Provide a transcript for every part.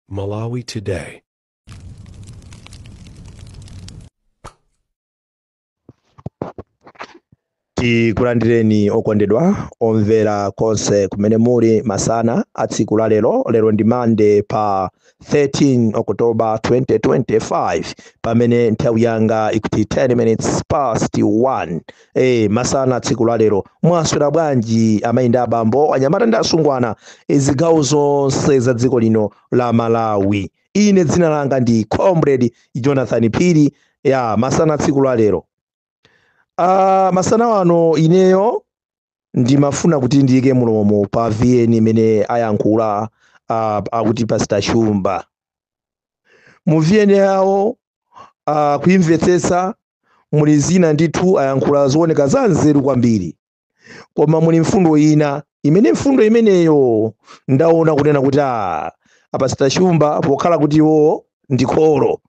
Malawi Today. tikulandireni okondedwa omvera konse kumene muli masana a tsiku la lero lero ndi mande pa 13 October 2025 pamene nthawi yanga ikuti 10 minutes past 1 eh masana tsiku la lero mwaswera bwanji amayi ndi abambo anyamata ndi asungwana zigawo zonse za dziko lino la Malawi ine dzina langa ndi comrade Jonathan Phiri ya masana tsiku la lero Ah, masana ano ineyo ndimafuna kuti ndiyike mulomo pa vn imene ayankhula ah, akuti pastor shumba mu vn yawo ah, kuimvetsetsa muli zina ndithu ayankhula zooneka za nzeru kwambiri koma muli mfundo ina imene mfundo imeneyo ndaona kunena kuti a a pastor shumba pokhala kuti iwowo ndi kholo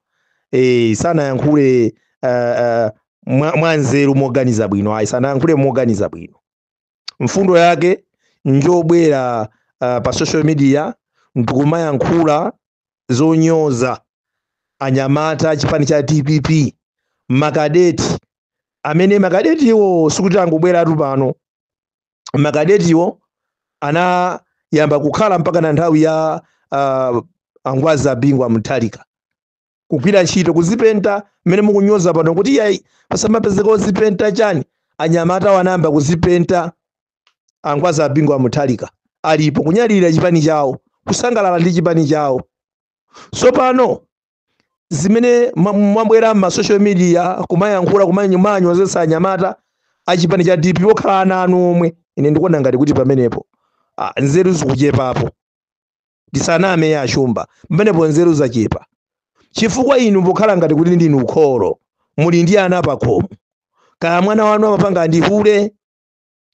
e, sanayankhule uh, uh, mwa, mwa nzeru moganiza bwino ayi sanayankhule moganiza bwino mfundo yake njobwera uh, pa social media ndikumayankhula zonyoza anyamata achipani cha dpp makadeti amene makadetiwo sikuti angobweratu pano makadetiwo anayamba kukhala mpaka na nthawi ya uh, angwazi a bingu wa mutharika kugwira ntchito kuzipenta mmene mukunyoza pano kuti iyayi pasamapezeka ozipenta chani anyamata wo anayamba kuzipenta angwazi a bingu wa mutharika alipo kunyadirira chipani chawo kusangalala ndi chipani chawo tsopano zimene ma- mwabwera mma social media kumayankhula kumanyomanyozetsa anyamata a chipani cha dp okhala ana anu omwe ine ndikuona ngati kuti pamenepo ah, nzeru zikuchepapo ndisaname ya a shumba pamenepo nzeru zachepa chifukwa inu pokhala ngati kuti ndinu kholo muli ndi ana pakhomo kaya mwana wanu amapanga ndi hule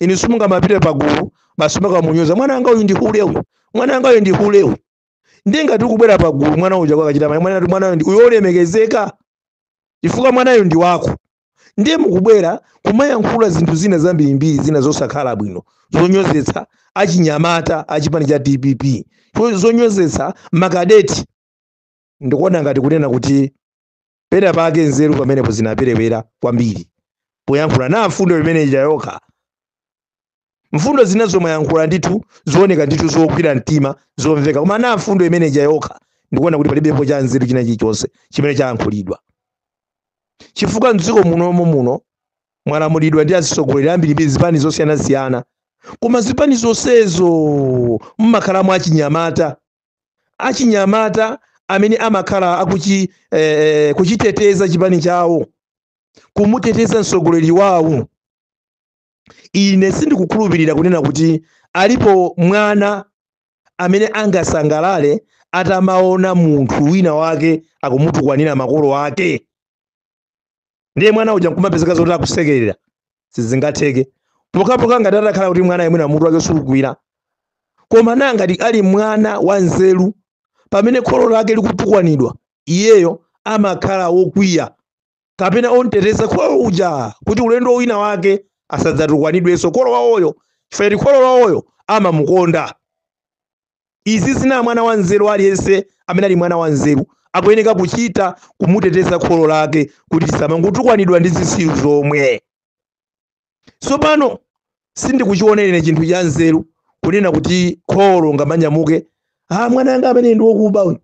inu simungamapite pagulu basi kumakamunyoza mwana wanga uyu ndi hule uyu mwana wanga uyu ndi hule uyu ndiye ngati ukubwera pagulu mwana uja kwakachita mwana mwana mwana uyu ndi- uyu olemekezeka chifukwa mwanayo ndi wako ndiye mukubwera kumayankhula zinthu zina zambirimbiri zina zosakhala bwino zonyozetsa achinyamata achipani cha dpp zo- zonyozetsa makadeti ndikuona ngati kunena kuti pena pake nzeru pamenepo zinaperewera kwambiri poyankhula na mfundo imene ija yokha mfundo zina zomwe ayankhula ndithu zooneka ndithu zogwira mtima zomveka koma na mfundo imene ija yokha ndikuona kuti palibepo cha nzeru china chilichonse chimene chayankhulidwa chifukwa mdziko munomo muno mwalamulidwa ndi atsogoleri ambirimbiri zipani zosiyanasiyana koma zipani zonsezo mmakhalamo achinyamata achinyamata amene amakhala akuchi eh, eh, kuchiteteza chipani chawo kumuteteza mtsogoleri wawo ine sindikukhulupirira kunena kuti alipo mwana amene angasangalale atamaona munthu wina wake akumutukwanira makolo ake ndiye mwana uja nkumapezeka zoti akusekerera sizingatheke pokapoka ngati atakhala kuti mwana iye mwina mutu wake sukugwira koma na ngati ali mwana wa nzeru pamene kholo lake likutukwanidwa iyeyo amakhala wokwiya kapena omteteza kholo uja kuti ulendo wina wake asadzatukwanidwenso kholo wawoyo chifukwa kuti kholo wawoyo amamukonda Izi zina mwana wa nzeru aliyense amene ali mwana wa nzeru akuyeneka kuchita kumuteteza kholo lake kuti lisamangotukwanidwa ndi zisiru zomwe. Tsopano sindikuchiona ine chinthu cha nzeru kunena kuti kholo ungamanyamuke ah, mwana anga amene ndi wokuba uyu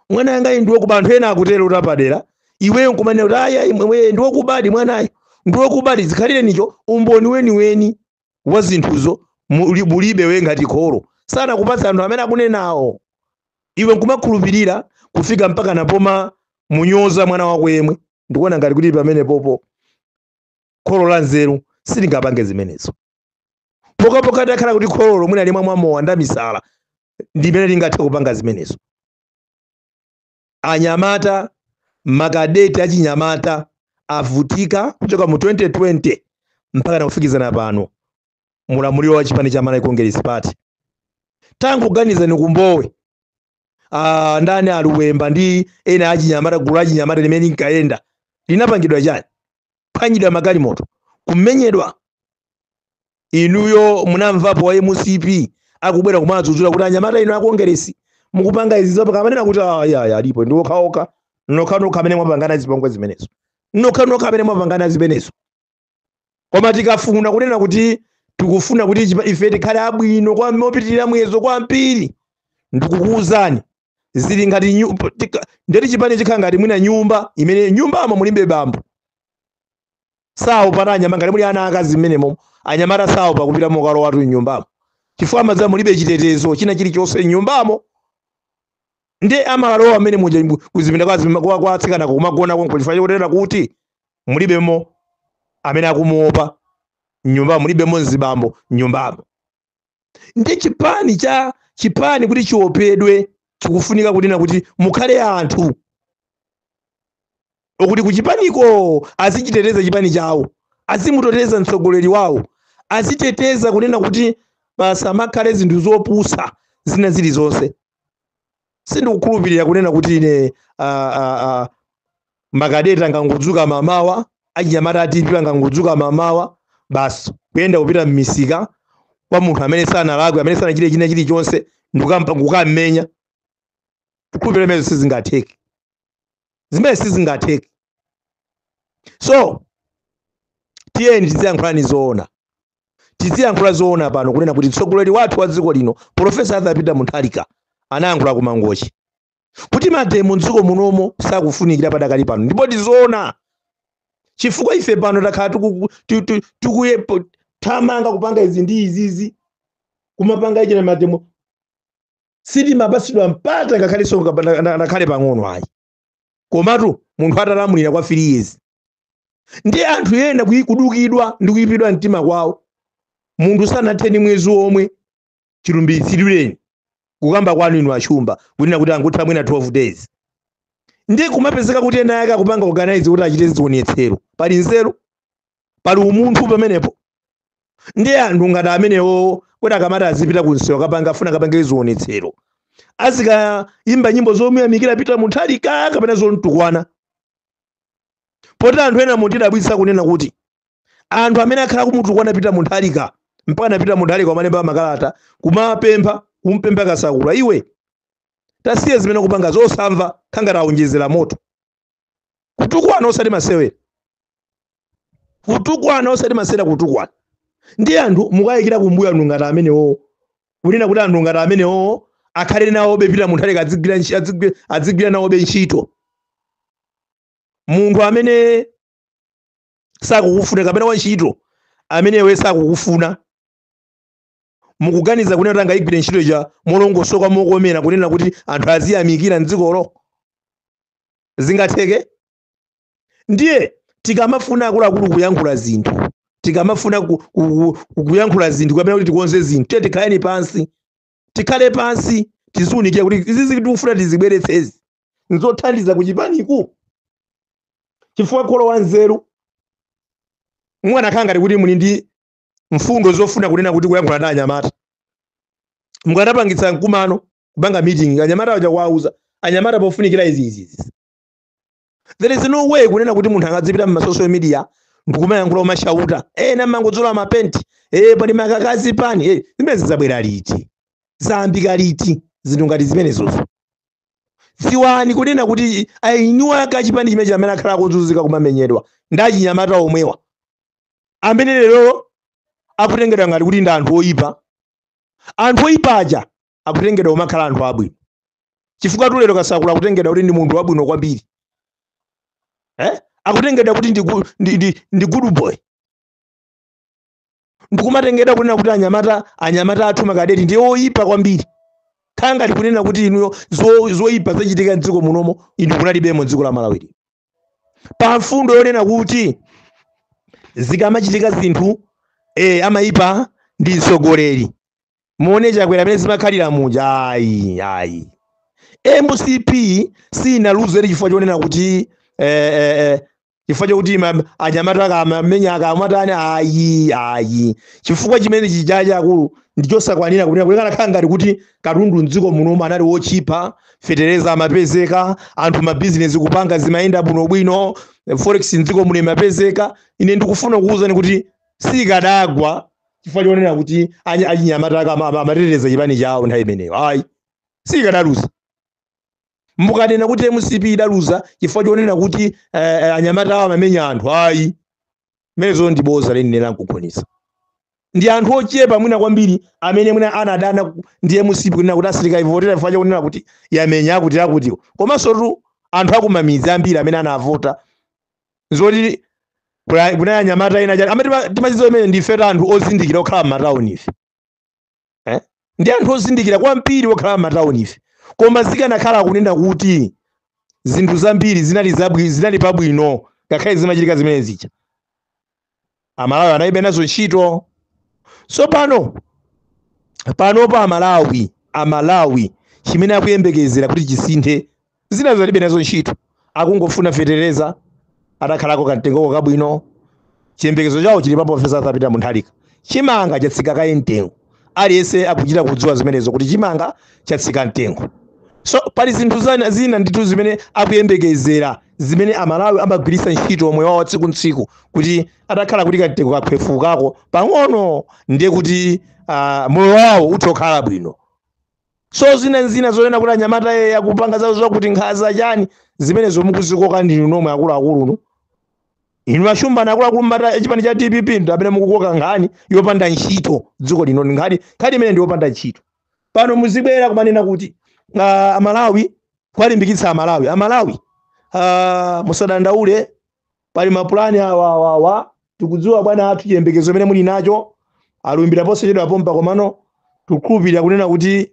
mwana anga ndi wokuba anthu ena akutero utapadera iweyo nkumanena kuti aya imwe ndi wokubadi mwanayo ndi wokubadi usakhale nicho umboni weniweni wa zinthuzo muli- bulibe we ngati kholo sanakupatsa anthu amene akunenawo iwe nkumakhulupirira kufika mpaka napomamunyoza mwana wako yemwe ndikuona ngati kuti pamenepopo kholo la nzeru silingapange zimenezo pokapoka atakhala kuti kholo mwina limamwa mowa ndi lamisala ndimene lingathe kupanga zimenezo anyamata makadeti achinyamata avutika kuchoka mu 2020 mpaka nakufikizano pano mulamuliro wa chipani cha Malawi Congress Party tangoganizani ku Mbowe ah, ndani a Luwemba ndi ena achinyamata gulu achinyamata limene linkayenda linapangidwa chani kuphwanyidwa magalimoto kumenyedwa inuyo munamvapo wa mcp akubwera kumadzudzula kuti anyamata inu a Kongeresi mukupanga izi ankanena kuti "Ah, ya ya alipo ndi okhaokha nokhanokha amene mwapangana zipongwe zimenezo nokhanokha amene mwapangana zimenezo koma tikafuna kunena kuti tikufuna kuti chipa- ife tikhale abwino kwambiri mopitirira muyezo kwambiri ndikukuwuzani zili ngati nyu- p- tika- nde kuti chipani chikakhala ngati mwina nyumba imene nyumbamo mulibe bambo saopatu anyamata ngati muli ana akazi mmenemo anyamata saopa kupita mokalowatu mnyumbamo chifukwa amadziwa mulibe chitetezo china chilichonse mnyumbamo nde amalowa amene muja mbu- kuzipinda kwa azima- kwa- kwa atsikana kumagona konko chifukwa chotera kuti mulibemo amene akumuopa mnyumbamo mulibemo mzibambo mnyumbamo ndi chipani cha chipani kuti chiopedwe chikufunika kunena kuti mukhale anthu okuti kuchipaniko azichiteteza chipani chawo azimuteteza mtsogoleri wawo aziteteza kunena kuti pasamakhale zinthu zopusa zina zilizonse sindikukhulupirira kunena kuti ine ah, ah, ah, makadeti angangodzuka mamawa achinyamata a DPP angangodzuka mamawa basi kuyenda kupita mmisika kwa munthu amene sanalakwe amene sanachite china chilichonse ndikukampa kukammenya kukhulupirira zimene sizingatheke, zimene sizingatheke so tiyeni tiziyankhula zoona tiziyankhula zoona pano kunena kuti mtsogoleri wathu wa dziko lino profesa arthur peter mutharika anayankhula ku mangochi kuti mademo mdziko munomo sakufunikira padakali pano ndipo tizoona chifukwa ife pano takhala tiku- tu- tu- tikuthamanga kupanga izi ndi izizi kumapanga ichi ndi mademo sitimapatsidwa mpata ngakhalenso ngapanda- na- nakhale pang'ono ayi komatu munthu atalamulira kwa 3 years ndi anthu ena kuyi- kudukidwa ndi kuyipidwa mtima kwawo munthu sanathe ndi mwezi omwe chilumbiritsidwireni kukamba kwanu inu achumba kunena kuti angotha mwina 12 days ndi kumapezeka kuti enaake akupanga organize kuti achite zionetsero pali nzeru pali umunthu pamenepo ndiye anthu ngati amenewo kuti akamati azipita kunsewu kapanga afuna akapange zionetsero azikayimba nyimbo zomuyamikira peter mutharika kapena zomtukwana poti anthu ena mukutidabwitsa kunena kuti anthu amene akhala akumutukwana peter mutharika mpaka a peter mutharika amalemba makalata kumapempha kumpempha kasakula iwe tasiya zimene ukupanga zosamva kukhala ngati aonjezera moto kutukwana osati masewera kutukwana osati masewera kutukwana ndi anthu mukuyikira kumbuyo anthu ngati amenewowo kunena kuti anthu ngati amenewowo akhale nawobe peter mutharika adzigwira ntchi- adzigwi- adzigwira nawobe ntchito munthu amene sakukufuna kapena wantchito amene iwe sakukufuna mukuganiza kunena kuti angayigwire ntchito ija molongosoka mokomera kunena kuti anthu aziyamikira mdzikolo zingatheke ndiye tikamafuna akuluakulu kuyankhula zinthu tikamafuna ku- ku- ku- kuyankhula zinthu kapena kuti tikonze zinthu tiye tikhaleni pansi tikhale pansi tiziunikire kuti izi zinthu tikufuna tizibweretsezi nzothandiza kuchipaniku chifukwa kholo wanzeru mwana kukhala ngati kuti muli ndi mfundo zofuna kunena kuti kuyankhula ndi anyamata mukanapangitsa mkumano kupanga meeting anyamata aja kuwauza anyamata pofunikira izi izi izi there is no way kunena kuti munthu angadzipita mu social media ndikumayankhula kumashauta ena mangodzola mapenti eh pali makakazi pani eh zimenezi zabwera liti zayambika liti zinthu ngati zimenezozo dziwani kunena kuti ayinuwa kachipani chimene chimene akhala akuzunzika kumamenyedwa ndi achinyamata omwewa amene lero akutengedwa ngati kuti ndi anthu oyipa anthu oyipa aja akutengedwa kumakhala anthu abwino chifukwa tu lero kasakula akutengedwa kuti ndi munthu wabwino kwambiri eh? akutengedwa kuti ndi, gu- ndi, ndi, ndi good boy ndikumatengedwa kunena kuti anyamata anyamata athu makadeti ndi oyipa kwambiri kukhala ngati kunena kuti inuyo zo- zoyipa zachitika mdziko munomo inu kunalibemo mdziko la malawi lino. pa mfundo yonena kuti zikamachitika zinthu eh, amayipa ndi mtsogoleri muone chakwera amene zimakhalira muja ayi ayi mcp sinaluzire chifukwa chonena kuti eh, eh, eh, chifukwa chokuti ma- anyamata ankamamenya ankamatani ayi ayi chifukwa chimene chija chachikulu ndichosakwanira kunena kuti kanakhala ngati kuti katundu mdziko munomo anali wotchipa fetereza amapezeka anthu mabizinesi kupanga zimayenda bwinobwino forex mdziko muno imapezeka ine ndikufuna kukuwuzani kuti sikadagwa chifukwa chonena kuti anyi- achinyamata aka ama- ama- amateteza chipani chawo nthawi imeneyo ayi sikadaluza mukanena kuti mcp idaluza chifukwa chonena kuti eh, eh, anyamata awo amamenya anthu ayi zimenezo ndi bodza lenileni nkukhonetsa ndi anthu ochepa mwina kwambiri amene mwina anadana ku- ndi mcp kunena kuti asirika ivotera chifukwa chakunena kuti yamenya akuti akutiwo komanso tu anthu akumamidzi ambiri amene anavota zoti kuna- kuna anyamata ena chani amati timadziwa zimenezo ndife ta anthu ozindikira okhala m'matawuni ife eh? ndi anthu ozindikira kwambiri okhala m'matawuni ife koma zikanakhala kunena kuti zinthu zambiri zinali zabwi zinali pabwino ngakhale zimachitika zimene zija amalawi analibe nazo ntchito tsopano panopa amalawi amalawi chimene akuyembekezera kuti chisinthe zinazo alibe nazo ntchito akungofuna fetereza atakhalako kamtengoko kabwino chiyembekezo chawo chili pa profesa arthur peter mutharika chimanga chatsika kaye mtengo aliyense akuchita kudziwa zimenezo kuti chimanga chatsika mtengo so pali zinthu zina, zina ndithu zimene akuyembekezera zimene amalawi amagwiritsa ntchito moyo wawo tsiku ntsiku kuti atakhala kuti kamtengo kakhwefukako pang'ono ndiye kuti uh, moyo wawo uthokhala bwino so zina nzina zonena kuti anyamatawa akupanga zawo zakuti nkhaza chani zimenezo mukuzikoka ndinu nomwe akuluakulu inu mashumba akuluakulu mbali ya chipani cha dpp ndi amene mukukoka nkhani yopanda ntchito dziko lino ndi nkhani nkhani imene ndi yopanda ntchito pano muzibwera kumanena kuti uh, amalawi kwalimbikitsa amalawi amalawi uh, musadandaule pali mapulani awa awa awa tikudziwa bwana athu chiyembekezo chimene muli nacho alumbira posachedwa pompa komano tikukhulupirira kunena kuti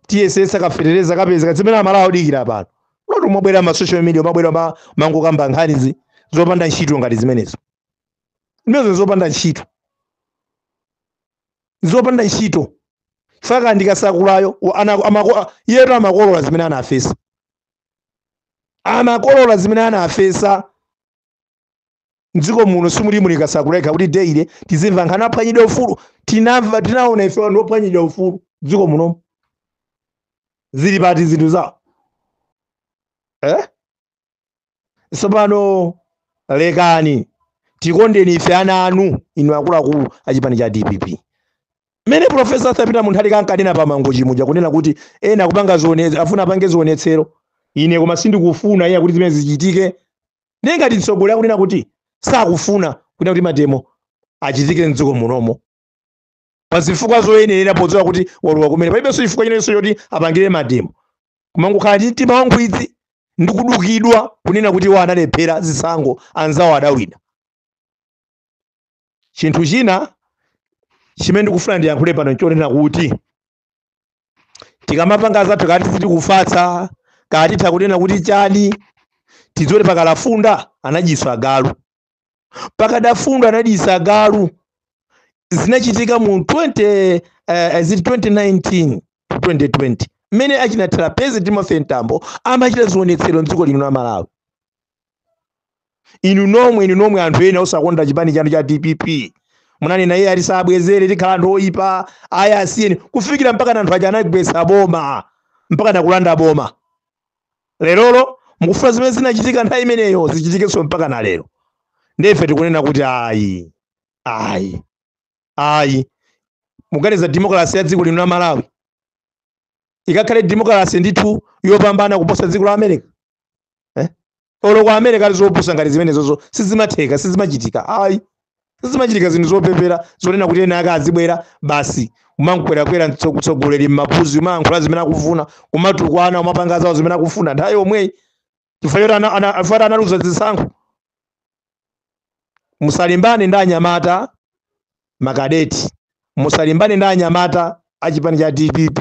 tiyesetsa kafetereza kapezeka zimene amalawi akudikira pano osati kumabwera ma social media kumabwera kumangokamba nkhani zopanda ntchito ngati zimenezo zimenezo zopanda ntchito zopanda ntchito aka ndi kasakulayo wa- ana- amako- iyetu amakolola zimene anafesa amakolola zimene anafesa mdziko muno simuli muli kasakula eka kuti daily tizimva nkhani aphwanyidwa ufulu tinamva tinaona ife anthu akuphwanyidwa ufulu mdziko munomu zili pati zinthu zawo eh? tsopano lekani tikondeni ife ana anu inu akuluakulu a chipani cha dpp mmene profesa arthur peter mutharika ankanena pa mangochi muja kunena kuti ena akupanga zionetsero akufuna apange zionetsero ine koma sindikufuna iyayi kuti zimene zichitike ndiye ngati mtsogoleri akunena kuti sakufuna kunena kuti mademo achitike mdziko munomo pa zifukwa zoyenera podziwa kuti walowa kumene palibenso chifukwa chinanso choti apangire mademo kumangokhala ndi mtima wankhwidzi ndi kudukidwa kunena kuti iwo analephera zisankho anzawo adawina chinthu china chimene ndikufuna ndiyankhule pano nchonena kuti tikamapanga zathu kaya tiziti kufatsa kaya titha kunena kuti chani tidziwe kuti pakadafunda anajiwitsa galu pakadafunda anajiwitsa galu zinachitika mu 20 eh, eh, zili 2019 to 2020 mmene achina trapence timothy mtambo amachita zionetsero mdziko lino la malawi inu nomwe inu nomwe anthu ena osakonda chipani chanu cha dpp munanena iyayi tisabwezere tikhala anthu oyipa ayi asiyeni kufikira mpaka anthu aja anagwetsa boma mpaka nakulanda boma lerolo mukufuna zimene zinachitika nthawi imeneyo zichitikenso mpaka na lero nde ife tikunena kuti ayi ayi ayi muganiza demokalasi ya dziko lino la malawi ikakhale demokalasi ndithu yopambana kuposa dziko la america eh? olo ku america ali zopusa ngati zimenezozo sizimatheka sizimachitika ayi sizimachitika zinthu zopepera zonena kuti ena ake azibwera basi kumamukwerakwera mtsogoleri m'mapuzi kumayankhula zimene akufuna kumatukwana kumapanga zawo zimene akufuna nthawi yomweyi chifukwa choti ana- ana- chifukwa choti analuza zisankho musalimbane ndi anyamata makadeti musalimbane ndi anyamata a chipani cha dpp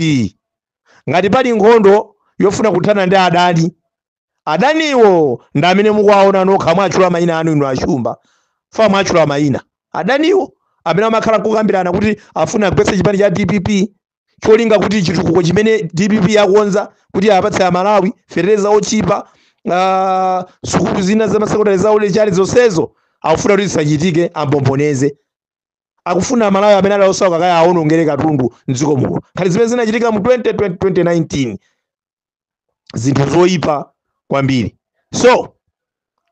ngati pali nkhondo yofuna kuthana ndi adani adaniwo ndi amene mukuwaona nokha mwatchula mayina anu inu a chimbafa mwatchula mayina adaniwo amene amakhala kukambirana kuti afuna agwetse chipani cha dpp cholinga kuti chitukuko chimene dpp yakonza kuti apatse amalawi fetereza otchipa ah, sukulu zina za masekondari zaulere chani zonsezo akufuna kuti zisachitike ambomboneze akufuna amalawi amene ali osauka akawaonongere katundu mdziko muno ngati zimene zinachitika mu 2020 2019 zinthu zoyipa kwambiri so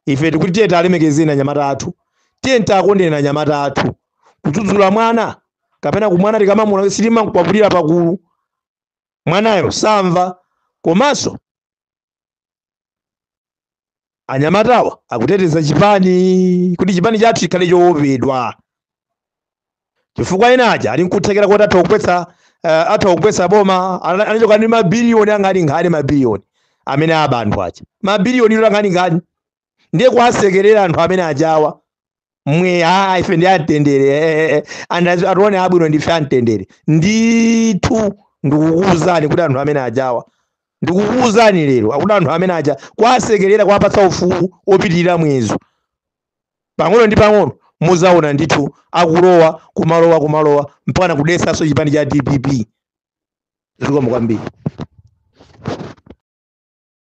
ife tikuti tiyeni tiwalemekeze anyamata athu tiyeni tiwakonde anyamata athu kudzudzula mwana kapena kumwana tikamamuona sitimamkwapulira pagulu mwanayo samva komanso anyamatawa akuteteza chipani kuti chipani chathu chikhale chowopedwa chifukwa ena aja ali nkuthekera koti atha kugwetsa uh, atha kugwetsa boma ana- anachoka ndi mabiliyoni angatingati mabiliyoni amene aba anthu aja mabiliyoni angatingati ndiye kuwasekerera anthu amene ajawa mvekere aa ife ndi amtendere eh, eh, eh. and as- atione abwino ndife amtendere ndithu ndikukuwuzani kuti anthu amene ajawa ndikukuwuzani lero kuti anthu amene aja kwasekerera kwapatsa ufulu opitirira muyezo pang'ono ndi pang'ono muzaona ndithu akulowa kumalowa kumalowa mpaka nakudetsanso chipani cha dpp zikomo kwambiri